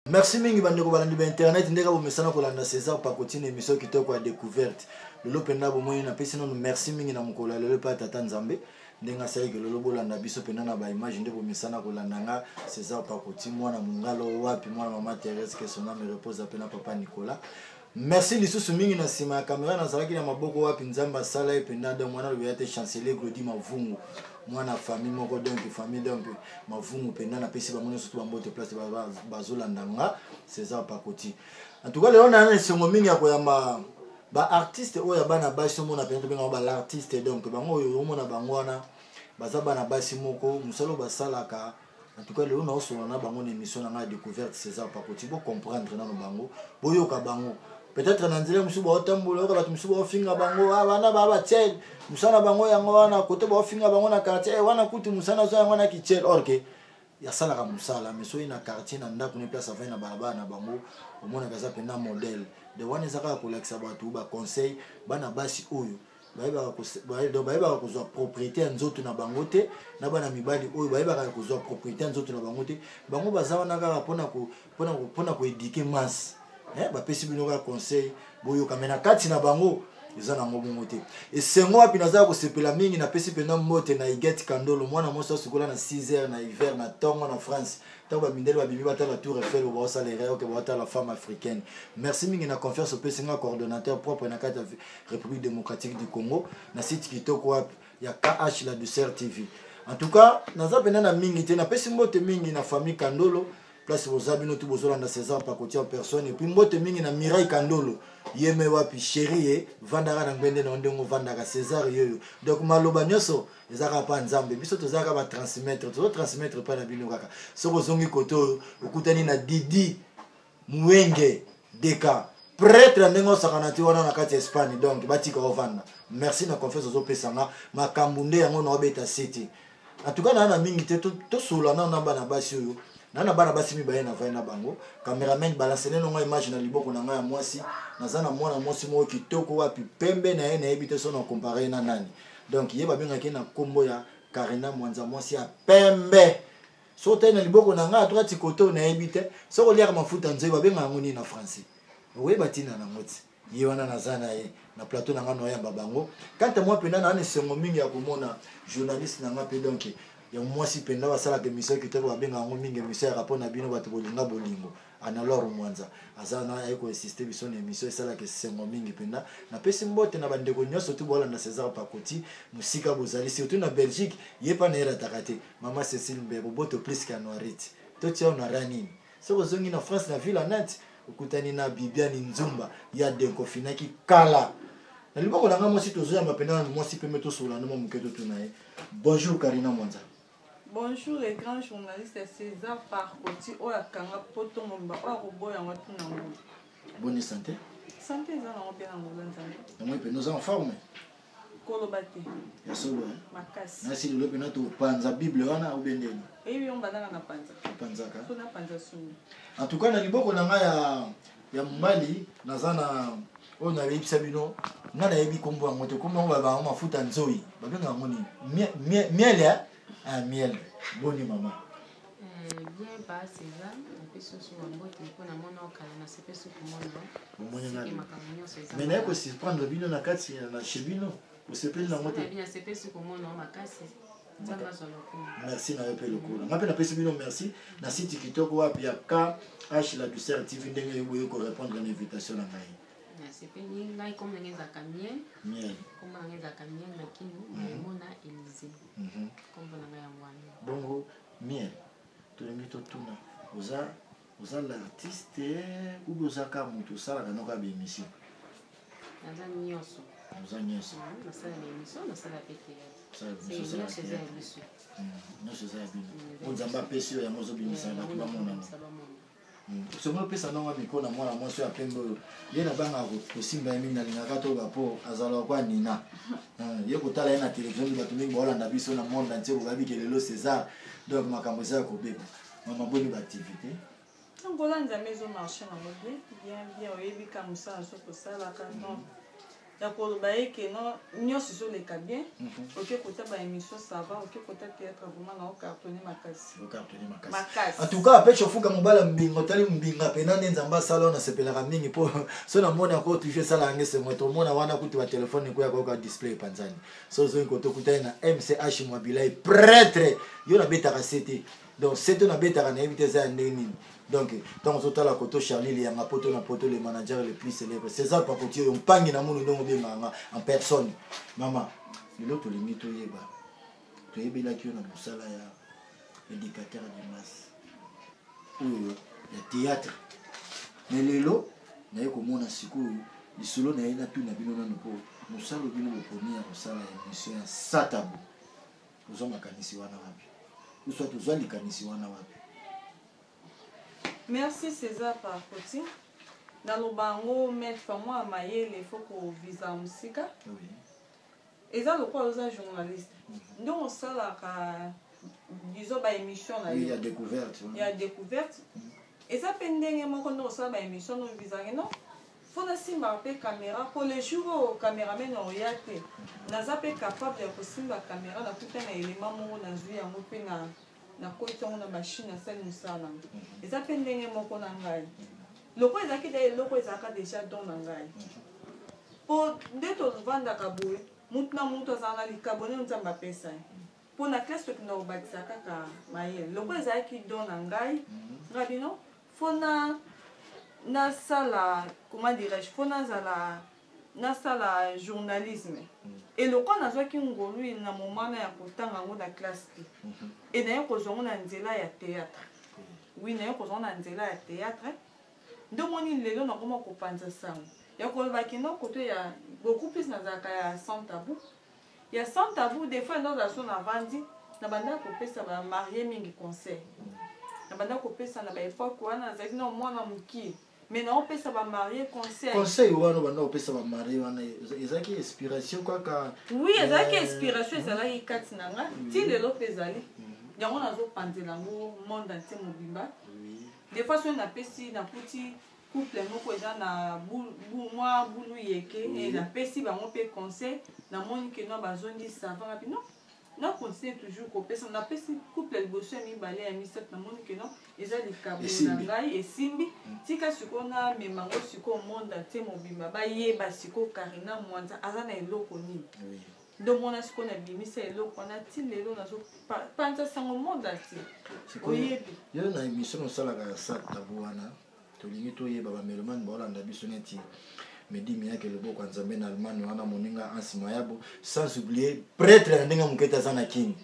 merci mingi bandeko balandi ba internet ndenge bomesana kolanda césar pakotine émission kitoko ya découverte lelo mpenza bomoni napesi nanu merci mingi na mokolo ya lelo mpe ya tata nzambe ndenge asalaki lelo bolanda biso mpenza na baimage nde bomesana kolanda nga césar pakoti mwana mongalo wapi mwana mama therese kesoname repose mpe na papa nicolas merci lisusu mingi na nsima ya kamera nazalaki na maboko wapi nzambe asala ye mpenza donc mwana lobeya te chancelier glodi mavungu mwana famille moko donc famille donc mavungu mpenza napesi bango nyonso to bambote place bazolanda nga césar pakoti en tout cas lelo naya na esengo mingi ya koyamba baartiste oyo ya bana basi omona mpenza tobengango balartiste donc bango oyo omona bango wana baza bana basi moko mosala oyo basalaka en tout cas lelo naosolola na bango na émission na ngai ya découverte césar pakoti bocomprendre nano bango boyoka bango peut-être na nzela mosusu baotambola yoka bato mosusu baofinga bango ah, wana baa batiel mosala bango yango wana kote baofinga bango na quartier eh, wana kutu mosala azwa yango wana kitiel or ke asalaka mosala mais soki na quartier na ndako ne place avai na balabala na bango omonaka eza mpenza modèle de wana eza kaka kolakisa bato baconseil bana basi oyo bayebaka kozwa propriété ya nzoto na bango te na bana mibali oyo bayebaka kozwa propriété ya nzoto na bango te bango baza wana kaka mpona koedike masse eh, bapesi bino kaka conseil boyoka me na kati na bango eza nango bongo te esengo wapi nazala kosepela mingi napesi mpenza mbote na igete kandolo mwana mwasi asikola na 6 heures na hiver na ntongo na france ntango bamindele babimi batala tour efel bo baosala erreur oke baotala femme africaine merci mingi na confiance opesi nga coordonnateur propre na kati ya république démocratique du congo na site kitoko wapi ya kh la douceur tv en tout cas naza mpena na mingi te napesi mbote mingi na famille kandolo place boza bino tu bozolanda césar pakoti en personne epuis mbote mingi na mirai kandolo yeme wapi sheri ye vandaka na ngbende na yo ndenge ovandaka césar yoyo donc maloba nyonso eza kaka mpa nzambe biso toza kaka batransmettre tozo transmettre mpa na bino kaka soki ozongi kote oyo okutani na didi muenge deka pretre ndenge osakana ti wana na kati ya espagne donc batika ovanda merci na confiance ozopesa nga makambo nde yango naobeta siti en tout cas naa na mingi te tosolola nao na bana basi oyo na na bana basi mibale na vai na bango cameraman balansele no ngai image na liboko na ngai ya mwasi naza na mwana mwasi moko kitoko wapi pembe na ye nayebi te so na compare na nani donc ye babengaki na nkombo ya karina mwanza mwasi ya pembe so otali na liboko na ngai atoka tikote oyo nayebi te soki oliaka mafuta nzoi babenga yango nini na français oyeba ntina nango ti ye wana naza na ye na plateau na ngai noyamba bango kanta mwa mpenza naa na esengo mingi ya komona journaliste na ngai mpe donk ya mwasi mpenza basalaka emission kitoko babenga yango mingi emission yaka mpo na bino bato bolinga bolingo Anne-Laure Mwanza aza na aye koinsiste biso na emission esalaka esengo mingi mpenza. Napesi mbote na bandeko nyonso tu bolanda César Pakoti mosika bozali surtout na Belgique ye mpa na ye rataka te mama Cécile Mbe boboto plus ka Noirite totia yo na ra nini soki ozongi na France na ville Nantes okutani na Bibiani Nzumba ya denkofinaki kala na liboko na ngai mwasi tozoyamba mpenza na mwasi pembe tosola na mwa moke totuna ye bonjour Karina Mwanza Bonjour le grand journaliste César Parcoti oyo akanga poto mobimba oyo akoboya yango atuna ngo. Bonne santé. Santé eza nango mpe na ngola nzambe. Yango mpe nous en forme. koloba te ya solo makasi nasi lelo mpena topanza bible wana obe ndeni eyebi yo mbandaka na panza opanzaka so na panza songi en tout cas na liboko na ngai ya ya mobali naza na oyo nayebisa bino nga nayebi kombo yango te kombo yango babango mafuta nzoi babenga yango nini miel ya ah, miel boni mama eh, bien basi eza napesi oso bambote mpo na mona okala nasepesi komona makambo nyonso eza me naye kosurprendre bino na kati na chez bino osepeli nango te nasepesi komona makasi merci na yo mpe lokola ngai mpe napesi bino merci na site kitoko wapi ya kh la ducer tv ndenge boye korépondre na invitation na ngai sepeli ngai comme nange ezalaka miel comme nange ezalaka miel na kino emona elise kombo na ngai yango wana bongo miel tolingi totuna oza oza l'artiste ou bien oza kaka moto osalaka noko ya baémission naza nyonso oza nyonso hmm, nasala baémission nasala mpe teatrenyonso eza ya biso nyonso eza ya bino hmm, o nzambe apesi yo yango ozobimisa hmm, bato bamonana soki opesa nanga miko na mwana mwasi oyo ya pembe oyo ye nabanga kosimba ye mingi nalingaka toyoka mpo azalaka kwa nina ye kotala ye na televizio bato mingi baolanda biso na monde antie bobabi ke lelo césar donc makambo eza ya kobeba mama boni ba activité donc oza nzambe ezo marche nango bien bien bien oyebi ka mosala so kosalaka mm. donc ya koloba ye ke no nyonso ezoleka bien mhm. oke kota ba émission sava oke kota théâtre vraiment nao cartonne makasi en tout cas peche ofuka mobala mbinga otali mbinga mpena nde nzambe asala oyo nasepelaka mingi mpo so namoni yango toujours esalaka nge sengo tomona wana kutu batelefone ekoya koyoka display epanzani so ozongi koto okutani na mch mwabilai pretre yo nabetaka se te donc seto nabetaka nayebi te eza ya ndenge nini donc ntango ozotala koto charlie liyanga poto na poto le manager le plus célèbre césar pakoti oyo mpangi na munu ndongo obengaka nga en personne mama lelo tolingi toyeba toyebelaki yo na mosala ya éducateur de masse oyo ya théâtre me lelo naye komona sikoyo lisolo na ye natuna bino nano mpo mosala obino boponi ya kosala ya mission ya satabo tozwa makanisi wana wapi uswa tozwa likanisi wana wapi merci césar parcoti naloba yango maître mwa mayele fo kovisa mosika oui. eza lokola oza journaliste mm -hmm. ndongo osalaka disons baémission na yo ya découverte ya découverte mm -hmm. eza mpe ndenge moko ndongo osala baémission no visake no faut nasimbaka mpe camera mpo le jour oyo cameraman oya te naza mpe capable ya kosimba camera nakuta na elema moko nazwi yango mpe na nakoti yango na machine nasali mosala nango mhm. eza mpe ndenge moko na ngai lokola ezalaki da eloko ezalaka deja don na ngai mpo mhm. nde tovandaka boye motu na motu azala na likabo nde nzambe apesa ye mpo na classe tokenda kobakisa kaka mayele lokola ezalaki don na ngai mhm. ngai bino fona nasala comment dirais-je fo nazala nasala journalisme mm. eloko nazwaki ngolu na momana ya kotanga yango na classe te mm-hmm. e naye kozwa yango na nzela ya théâtre mm. wi naye kozwa na nzela ya théâtre nde omoni lelo nakoma kopanza sango ya koloba kino koto ya beaucoup plus nazalaka ya sans tabou ya sans tabou des fois nga ozala so na vandi na banda kopesa ba marie mingi conseil na banda kopesa na ba époque wana nazalaki na mwana mokie mais naopesa bamarie conseil conseil wana banda kopesa bamarie wana ezalaki inspiration kaka oui ezalaki euh, inspiration ezalaki kati na nga mm. ti lelo mpe ezali mm. yango nazopanzela yango monde entier mobimba des fois soki napesi nakuti couple moko eza na mwa bulu yeke e napesi bango mpe conseil namoni ke no bazondi sava ngapi no na continue toujours kopesa napesi couple ya liboso ya mibale ya misato namoni ke no eza likabo na ngai esimbi mm. tika sikoyo namema ngo sikoyo monde atie mobimba bayeba sikoyo karina mwanza aza na eloko nini ndomona sikoyo nabimisa eloko wana ti lelo nazopanza sango monde atie oyebi yo na émission osalaka ya sat tabu wana tolingi toyeba bamelomane baolanda biso neti medi miyake loboko ya nzambe na allemagne wana moninga ansi mayabo sans oublier pretre na ndenge moke te aza na kini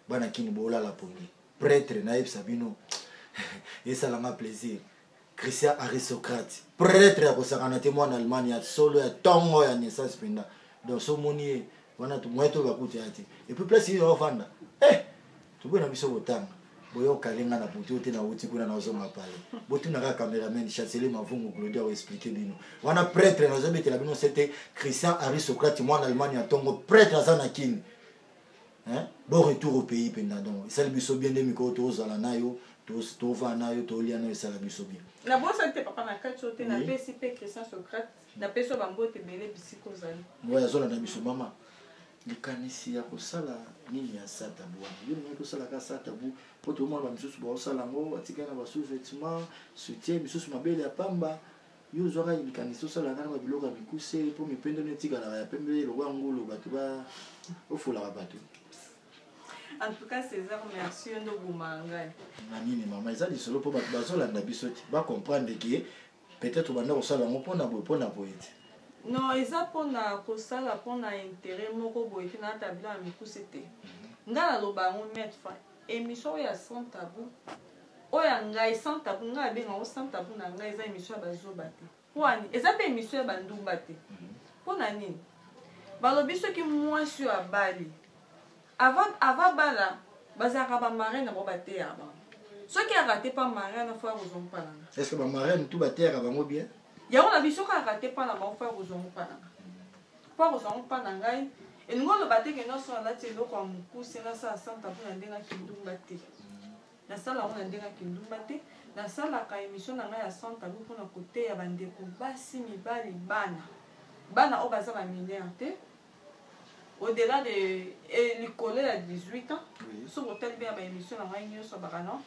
bana kini boolala pongi pretre nayebisa bino esalanga plaisir christian aristocrate pretre ya kosakana te mwana allemagne ya solo ya ntongo ya naissance mpenza donc so omoni ye wana moyen toyeba kutu ya te epuis place ye ovanda eh toboyi na biso kotanga boyokale nga na butu te nauti kuna nazonga pale botuna kaka cameraman chancelier mavungu glodi akoexplike bino wana pretre nazobetela bino sete christian aristocrate mwana allemagne ya ntongo pretre aza na kini bo retour au pays mpenza donc esali biso bien nde mikolo tozala nayo tovaa nayo tolia nayo esala biso bien nabosani te papa na kati oyo te napesi mpe christian socrate napesi yo bambote ebele bisika ozali oyo azolanda biso mama likanisi ya kosala nini ya satabu wana yo nini kosala ka satabu mpo toomona bamisusu baosala yango batikali na basous-vetement soutien misusu mabele ya pamba yo ozwaka likanisi osalaka na babiloko ya mikuse mpo mipende no etikalaka ya pembe lokola ngulu bato ba ofolaka bato en tout cas césar merci yo nde obomaka ngai na nini mama eza lisolo mpo bato bazolanda biso te bacomprendre ke peut-être obanda kosala yango mpona boye mpona boye te non eza mpona kosala mpona intérêt moko boye te na tablo ya mikuse te mhm. ngai naloba yango mille fois émission oyo ya sans tabou oyo ya ngai sans tabou ngai abenga yango sans tabou na ngai eza émission ya bazoba te mpo ani eza mpe émission ya bandumba te mhm. mpo na nini balobi soki mwasi oyo abali Avant avant bala bazalaka ba marraine na bango bateyaka bango. Soki arate pa marraine na fois kozwa mpalanga. Est-ce que ba marraine tout bateyaka bango bien? Yango na biso kaka te pa na bango fois kozwa mpalanga. Fois kozwa mpalanga ngai elingi oloba te ke nyonso alati eloko ya mokuse nasala santa mpo na ndenge ya kindumba te nasala yango na ndenge ya kindumba te nasalaka emission na ngai ya santa mpo mpona koteya bandeko basi mibali bana bana oyo baza baminere te au delà de eh, likolo ya 18 ans soki otali mpe ya baémission na ngai nyonso bakanon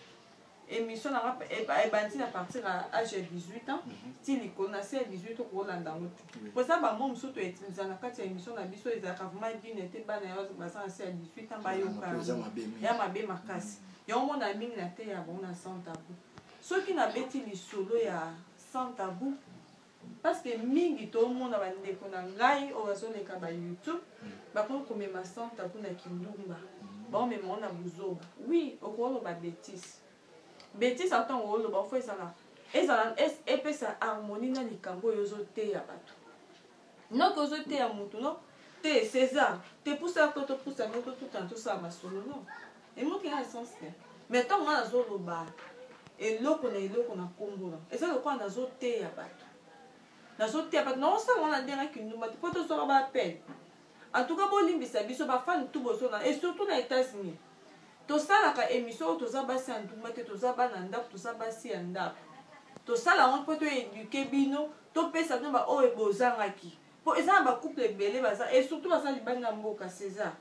émission na ngai eh, eh, ebandi na partir ya age ya 18 ans mhm. ti likolo na se ya 18 okolanda yango te mpo eza bamo mosusu toyetiliza na kati ya émission na biso ezalaka vraiment dine te bana yo baza na se ya 18 ans bayoka ya mabe makasi mhm. yango mona mingi na te ya bango na sans tabou soki nabeti lisolo ya sans tabou parce que mingi tomona bandeko na ngai oyo bazoleka ba youtube mm. bakoki komema santa kuna kindumba mm. baomema ona buzoba oui okoloba betise betise ata ntango oloba ofo ezala ezala epesa harmonie na likambo oyo ozoteya bato noki ozoteya motu no te césar te pusa to topusa no totutana tosala masolo no emoki na essence te mais ntango nga nazoloba eloko na eloko na nkombola eza lokola nazoteya bato nazoteya bato naosala wana ndenge kindumba te mpo tozwaka baapel en tout cas bolimbisa biso bafani tu bozona et surtout na états-unis tosalaka émission oyo toza basi ya ndumba te toza bana ndako toza basi ya ndako tosala yango mpo toeduke bino topesa bino baoyo bozangaki mpo eza na bacouple ebele baza e surtout baza libanda mboka césar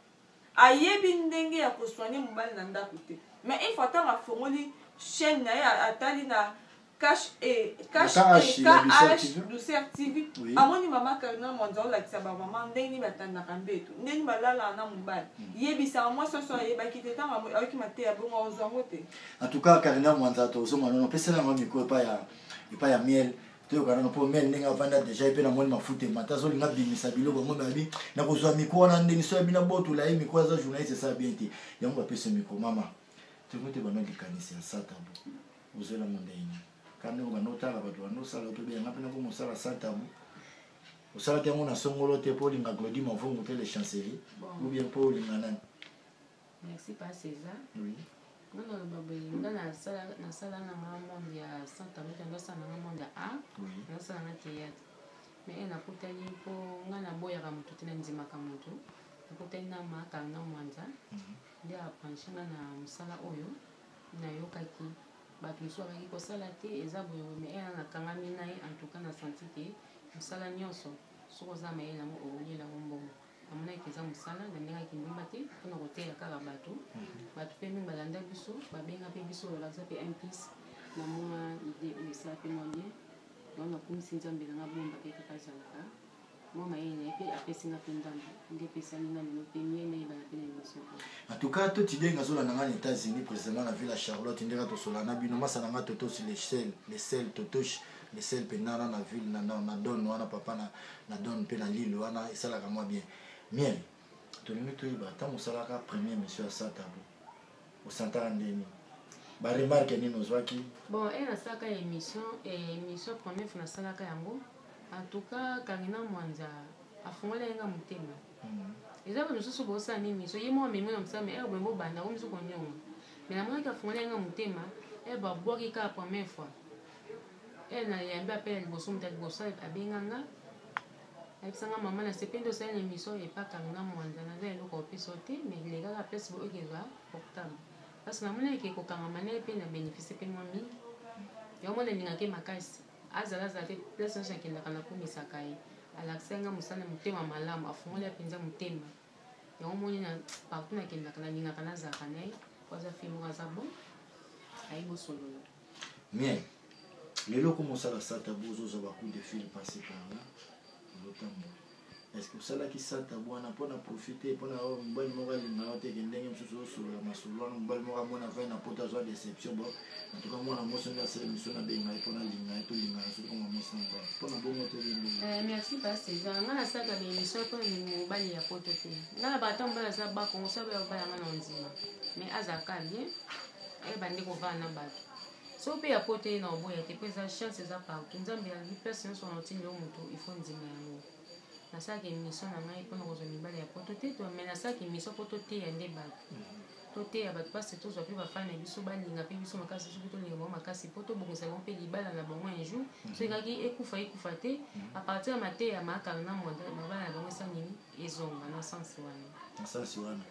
ayebi ndenge ya kosoigne mobali na ndako te mais une fois ntango afongoli chaîne na ye atali na cash e cash e kh douceur tv amoni mama karina mwanza olakisa bamama ndenge nini batandaka mbeto ndenge nini balalaka na mobali hmm. yebisaka mwasi oso ayebaki te ntango ayoki mateya bongo ozwa yango te en tout cas karina mwanza tozonga nono pesela yango mikro epai ya miel toyoka nano mpo mene ndenge avanda deja ye mpe namoni mafuta emata azolinga abimisa biloko yango nayebi nakozwa mikro wana ndenge so yabi na botola ye mikro aza journaliste esala bien te yango bapesi mikro mama tolingo te bana likanisi ya satabo ozela ngo ndenge nini kaka ndenge obanda otala bato banda osala oto beyanga mpe nako mosala satabo osalaki yango na songolo te mpo olinga glodi mavungu mpe le chancelier ou bien mpo olinga nani merci pa césar oui. nga naloba boye nga nasala na nga monde ya sans tabute ndosala na nga monde ya art ndosala na théâtre mais eh, nakutani mpo nga naboyaka motu te nandimaka motu nakutani na makanga mwanza mhm. nde apranche nga na mosala oyo nayokaki bato mosusu bakaki kosala te eza boye mais eh, nakangami na ye en tout cas na senti te mosala nyonso soki oza mayele yango okoyelango mbongo namonaki mpenza mosala nalingaki kindumba te mpo na koteya kaka bato mhm. bato mpe mingi balanda biso babenga mpe biso balakisa mpe mplis na mwa ide oyo esala mpe mwa bien yango nakumisi nzambe na nga bomba mpe kaka azalaka mwa mayele na ye mpe apesi nga mpe ndambo nde epesami na lelo mpe mie nayebana mpe na émission oyo en tout cas totidenge azolanda nga na états-unis précisément na ville ya charlotte ndenge tosolana bino masa na nga totos le sel le sel totoche Bessel mpe nana na ville na, na, na don wana papa na, na don mpe na lille wana esalaka mwa bien miel tolingi toyeba ntango osalaka premier monsieur ya sa tabu osantaka ndeni baremarke nini ozwaki bon e nasalaka émission émission premier fo nasalaka yango en tout cas kangina mwanza afungoli yenga motema mhm. eza ba mosusu bosala nini miso ye mwa memi na mosala me ebongo eh, banda omiso konyonga me namonaki afungoli yenga motema e eh, babwaki kaka première fois e na yambi apel ya liboso moto ya liboso abenga nga ayebisa nga mama na sepe nde osali na émission epakami na mwanza naza eloko opesa te mais lekaka place bo ekezwa portable parce namoni eke kokangama na ye mpe na bénéficie mpe mwa mingi yango mona elingaki makasi azala azala te place nyonso akendaka nakumisaka ye alakisa nga mosala motema malamu afungoli ya mpenza motema yango moni na partout nakendaka nalingaka nazalaka na ye po aza fimoko aza bon ayebi osolola mais lelo koma osala sata bo ozozwa bacoup de fil passe par là ozotambola est ce que osalaki sata bwana mpo na profite mpo na mobali moko alinga yo teke ndenge mosusu osolola masolo wana mobali moko amona vai na poto azwa deception bo antuka mwana mosi nde asala miso nabenga ye mpo nalinga ye tolinga ye soki mwa mosi na mobali mpo na bongo tolingi eh, merci pasi eza nga nasalaka bemission mpo nalingi mobali ya poto te nga na bato mobali aza bakongo soki bayanga na ondima mais aza ka bien eh, bandi kovanda na bato so mpe ya poto ye na oboya te mpo eza chance eza partout nzambe yangi place nyonso wana otindi yo moto ifo ndima yango nasalaka émission na ngai mpona kozwa mibale ya poto te me nasalaka émission mpo toteya nde bato toteya bato mpasi tozwa mpe bafani na biso balinga mpe biso makasi soki tolinga bango makasi mpo tobongisa bango mpe libala na bango un jour mhm. soki kaki ekufa ekufa te mhm. apartir ya mateya maakala na mwanda babala na bango esanini ezonga na sens wana na sens wana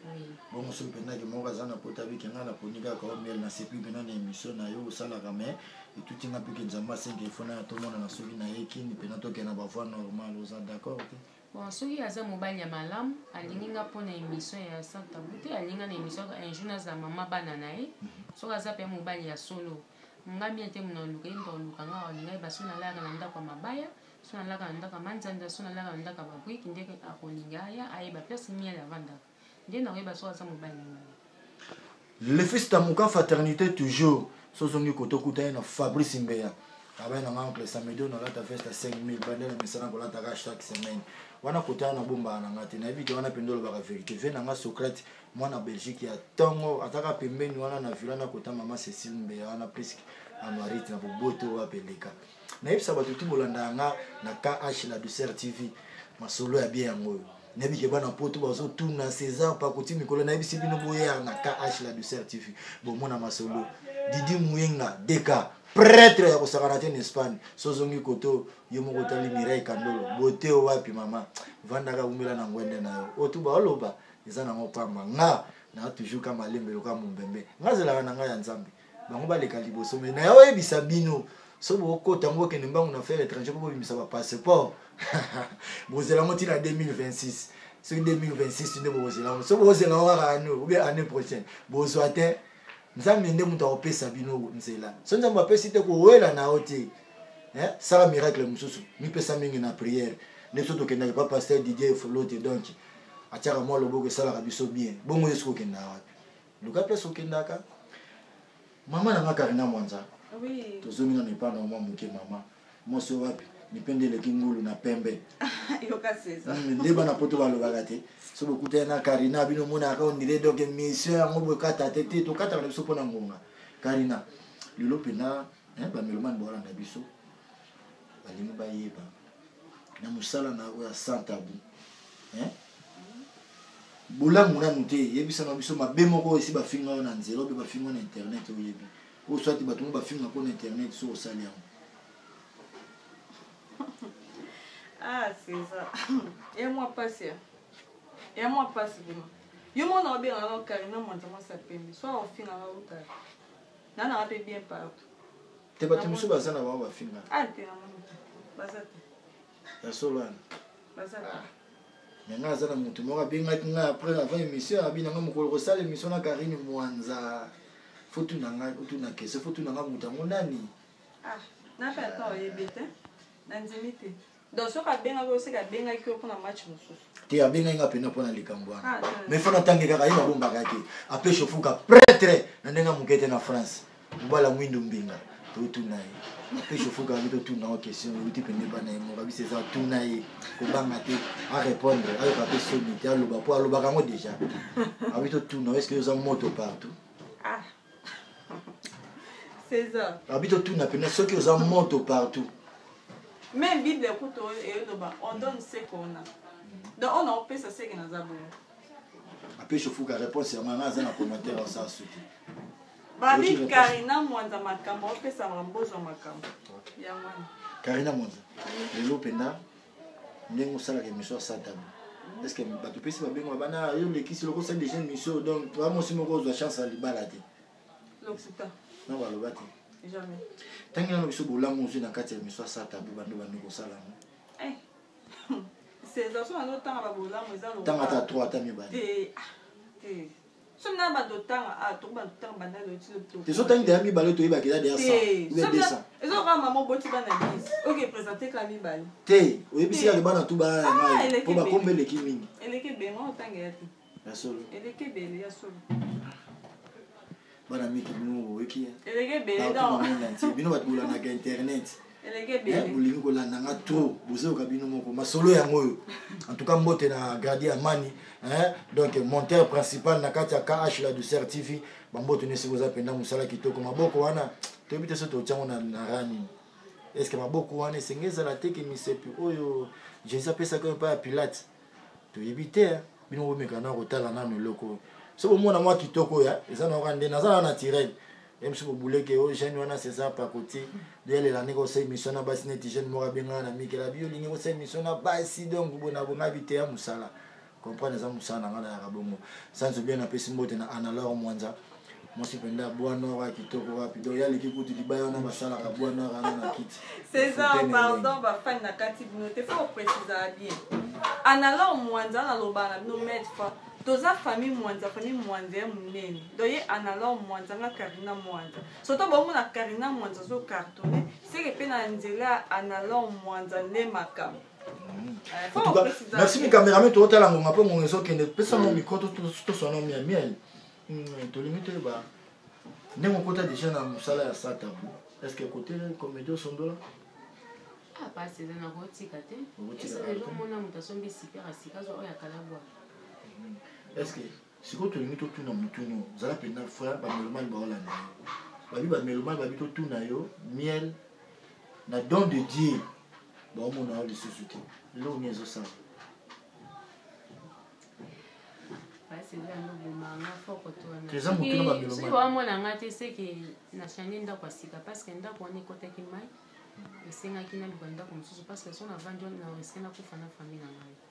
bongo soki mpendaki moko aza na pota bike ngai naponi kaka o miel nasepi mpena na émission na yo osalaka mai etuti ngai mpeke nzambe asengi efona ya tomonana soki na ye kini mpena tokende na bavoi normal oza d'accord te bon soki aza mobali ya malamu alingi nga mpo na émission ya santabu te alingi nga na émission un jour nazala mama bana na ye mhm. soki aza mpe mobali ya solo nga mie te mona oluka ye mpe oluka nga olinga ye basoki nalayaka na ndako ya mabaya so nalaka na ndako ya manzanza so nalaka na ndako ya babriki nde akolinga aya ayeba place miele avandaka nde nakoyeba soki aza mobali na ngai le fils tamuka fraternité toujours so ozongi koto okuta ye na fabrice mbeya abai na ngai oncle samedo nalata veste ya 5000 bande na misala nakolataka chaque semaine wana kotala na bombaka na ngai te nayebi te wana mpenza olobaka verité ve na ngai socrate mwana belgique ya ntongo ataka pembeni wana na vila nakota mama cécile mbeya wana priske anuarite na boboto wapi eleka nayebisa bato ti bolandaka nga na kh la douceur tv masolo ya bie yango oyo nayebi ke bana poto bazotuna césar pakoti mikolo nayebisi bino boya na kh la douceur tv bomona masolo didi muyenga deka pretre ya kosakana te na espagne so ozongi koto yo moko otali mirai kandolo bote wapi mama vandaka umela na ngwende na yo oyo tu baoloba eza nango pamba nga na toujours ka malembe loka mombembe nga zelaka na ngai ya nzambe bango baleka liboso me naye oyebisa bino so bokota yango bokende mbangu na faire étranger mpo bobimisa bapasseport bozela yango ntina 2026 soki 2026 nde bokozela yango so bokozela yango kaka ano obe année prochaine bozwa te nzambe nde moto akopesa bino nzela so nzambe apesi te kowela na yo te eh, sala miracle mosusu mipesa mingi na priere nde biso tokendaka pa paster didier folote donc atiaka mwa loboko esalaka biso bien bongo yesu kokendaka wapi luka place okendaka mama na nga karina mwanza oui. tozomi nano epai na mwa moke mama mwasi wapi mipende eleki ngulu na pembe hmm, nde bana poto balobaka te so bokutani na karina bino omonaka ondire donc mission yango bokata te te tokataka na biso mpo na ngonga karina lelo mpena bamelomani bawalanda biso balingi bayeba na mosala na oyo ya sans tabou hein? bolamu nanu te yebisana biso mabe moko oyo esi bafinga yo na nzela obe bafinga na internet oyebi oyo swati bato ngo bafinga mpo na internet so osali yango ah césar ya mwa mpasi ya ya mwa mpasi vraimen yo mona obengaka no karina mwanza mwasi ya pembe so aofinga nga otala nananga mpe bien partout te bato mosusu baza na bango bafinga ah, ya solo wana ah. me ngai aza na motu moko abengaki ngai après avant émission abi na ngai mokolo kosala émission na karine mwanza fotu na ngai otu na kese fotu na ngai moto yango nani ah, donc soki abengaki yo seke abengaki yo mpona match mosusu te abengaki nga mpena mpona likambo wana ah, mais fo natange kaka ye babombaka te ape shofuka pretre na ndenge ya moke te na france mobala mwindu mbinga totuna ye ape shofuka abi totuna o question euti pende bana ye moko abisa eza tuna ye kobanga te arépondre ayoka mpe soni te aloba mpo alobaka yango déjà abi totuna yo eske oza moto partout ah. césar abi totuna mpena soki oza moto partout mais bible kutu eyoloba on donne ce qu'on a donc on aopesa seke naza bongo ape shofuka réponse yango yanga aza na commentaire osa suki babi karina mwanza makambo opesaka mbozwa makambo yango wana karina mwanza lelo mpenza ndenge osalaka émission ya satana est ce que bato pesi babengo bana yo lekisi loko osali déjà émission donc toa mosi moko ozwa chance ya libala te na baloba te ntangi nano biso bolamu ozwi na kati ya émission ya satabu bando bandi kosala yango eh. tanga ata 3 ata mibale ezotangi deya mibale toyebaki eza deya te oyebisi yake bana tu bana ya ngai mpo bakomba eleki mingi ya solo bana miki bino boyeki bino bato bolandaka internet bolingi kolanda nga trop bozoyoka bino moko masolo yango oyo en tout cas mbote na gradi ya mani donc monteur principal na kati ya kh la douceur tv bambote nesi boza mpenza mosala kitoko maboko wana toyebi te so totyango na rani est ce que maboko wana esenge ezala te ke misepi oyo jésus apesaka oyo epai ya pilate toyebi te bino bomeka na kotala nano eloko oyo so bomona mwa kitoko ya eza na oka nde naza na naturel meme si kobuleke yo jeune wana césar pakoti doyalela ndenge osa émission na basi neti jeune moko abengana na mikela bi olingi kosa émission na basi donc bona bona biteya mosala comprendre eza mosala na ngai nayaka bongo sans obien napesi mbote na analor mwanza mwasi mpenza bwa nor ya kitoko wapi donc ye aleki kutu libaya wana basalaka bwa nor wana na kiti césar pardon bafani na kati bino te fo oprécisaka bien analor mwanza naloba na bino maître toza famille mwanza famille mwanza ya monene do ye analor mwanza nga carina mwanza soto baomona carina mwanza azo cartonne seke mpe na nzela ya analor mwanza nde makambo mm. eh, merci mikameramen tootala ngonga mpe ngonga ezokende pesa mo mikro toswana mia miel tolingi toyeba ndenge okota deja na mosala ya satabu estce kote comédie osondola ah, pasi eza na kotika te esalelomona moto asombi sipera sika zo oyo akalabwa mm. estce sikoyo tolingi totuna motuna oyo zala mpenza frère bamelomani baolanda yo babi bamelomani babi totuna yo miel na don de dieu baomona yo lisusu te eloko nini ezosala toza motuna bamelomani baomona nga te seke na change ndako ya sika parce que ndako wana ekotaki mai esengaki naluka ndako mosusu parce que so navandi wana na riske nakufa na famille na ngai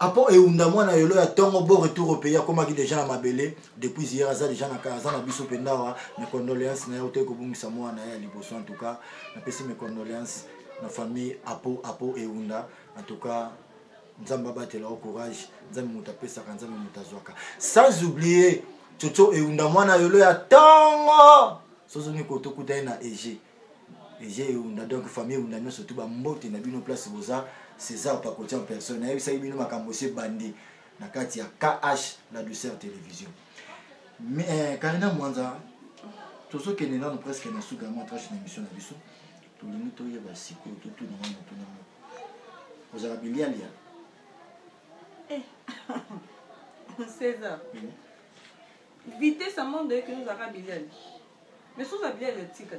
apo eunda mwana yolo ya tongo bo retour au pays akomaki deja na mabele depuis hier aza deja na aza na biso mpe ndawa mes condoléances na ye otoki kobungisa mwana ye ya liboso en tout cas napesi mes condoléances na famille apo apo eunda en tout cas nzambe abatela o courage nzambe moto apesaka nzambe moto azwaka sans oublier coco eunda mwana yolo ya tongo sozongi kotokuta ye na ege ejei unda donc famille unda nyonso tu bambote na bino place boza césar pakoti en personne nayebisaki bino makambo se bandi na kati ya kh la douceur télévision mais eh, karina mwanza tozokende nano presque na suka ya mwa trache na émission na biso tolingi toyeba sikoyo totuna mwa motuna moko ozala bilialia eh. césar vitesse ya monde oyekenozaka bilialia Mais sous la bière, le tika.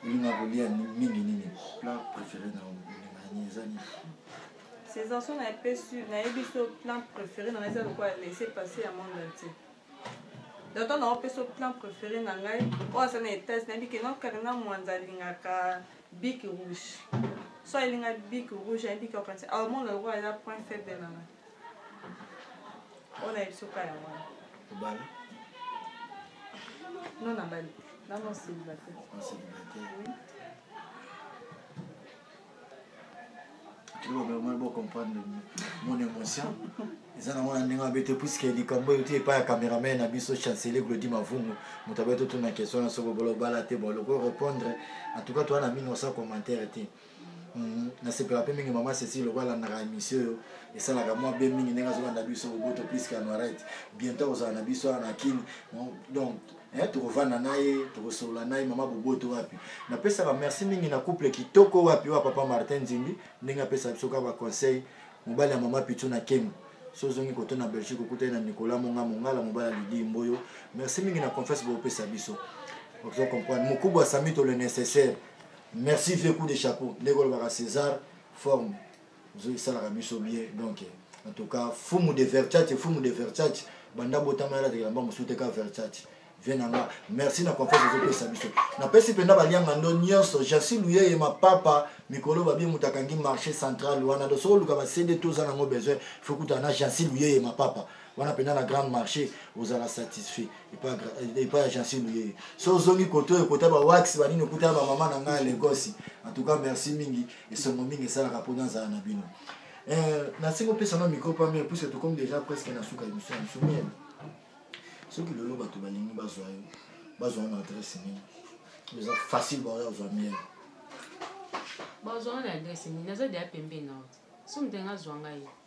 olinga kolia mingi nini plat préféré na olinga eza nini sensation na epe sur nayebi so plan préféré na ngai eza lokola laisse passer ya monde entier doto na opesa plan préféré na ngai oyo aza na etage nayebi ke non karina mwanza alingaka bik rouge so alinga bik rouge ayebi ke okanisa aomona lokola eza point faible na ngai oyo na biso ka yango wana obala no nabali nano célibataire bocomprendre mon émotion eza nango na ndenge abete puiske likambo euti epai ya cameraman na biso chancelier glodi mavungu moto abeti otuna question na soko bolo obala te bolo ko répondre en tout cas toa na 1900 commentaire te Mhm. nasepela mpe mingi mama ceci lokola alandaka émission oyo esalaka mwa bien mingi ndenge azolanda biso boboto plus kanoirete bientôt akozala na biso wana na kini donc eh, tokovanda na ye tokosolola na ye mama boboto wapi napesaka merci mingi na couple kitoko wapi wa papa martin nzimbi ndenge apesaka biso kaka baconseil mobali ya mama pitu na kembo so ozongi koto na belgique okutani na nicolas monga mongala mobali ya lidi mboyo merci mingi na confiance bopesa biso ozo comprendre mokubwa sami to le nécessaire merci vieux coup de chapeau ndenge olobaka césar forme ozoki esalaka biso bien donc en tout cas fumu de verchate fumu de verchate banda botama yala tekelamba mosusu te ka verchate vie na nga merci na confiance ozopesa biso napesi mpenza balianga ndo nyonso jasi luyeye mapapa mikolo babie moto akangi marché central wana do soki oluka basende to oza nango besoin fokutana na jasi luyeye mapapa wana mpenza na grande marché ozala satisfait epai ya jansi luyeye so ozongi koto oyo kota bawax banini okutana bamama na ngai legosi en tout cas merci mingi esongo mingi esalaka mpo nazala na bino eh, nasengi opesa na micro pamere puiske tokomi déjà presque na suka émission ya biso miele soki lelo bato balingi bazwa yo bazwa yo na adresse nini eza facile baoya ozwa miele bazwa yo na adresse nini naza deya pembeni na yo so moto enge azwa ngai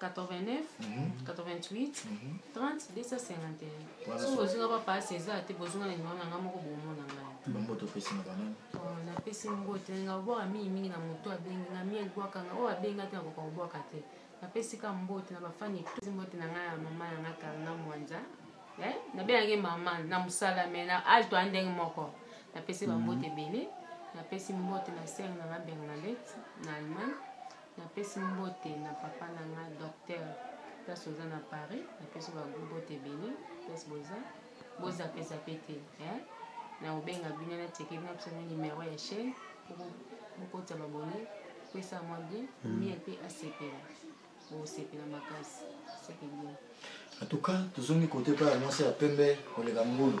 89 88 30 251 soki bozinga bapasi eza te bozinga na nimero na ngai moko bomona ngai bamboto opesi na banani oh, napesi mbote nga obwaka mingi mingi na moto abengi nga miel bwaka nga oyo abenga te akoka kobwaka te napesi ka mbote na bafani etosi mbote na ngai ya mama na ngai karna mwanza eh, nabengaki mama na mosala me na age toya ndenge moko napesi bambote mhm. ebele napesi mbote na sere na nga bernadette na allemagne napesi mbote na papa na nga docteur place oza na paris napesi bagu mbote ebele place boza bozapezape te eh? na kobenga bino natieke bino biso na numero ya chaine bokotisa babone pesa mwa bien mm. mie mpe asepela bosepela makasi seke bien en tout cas tozongi kote mpe ya mwasi ya pembe koleka ngulu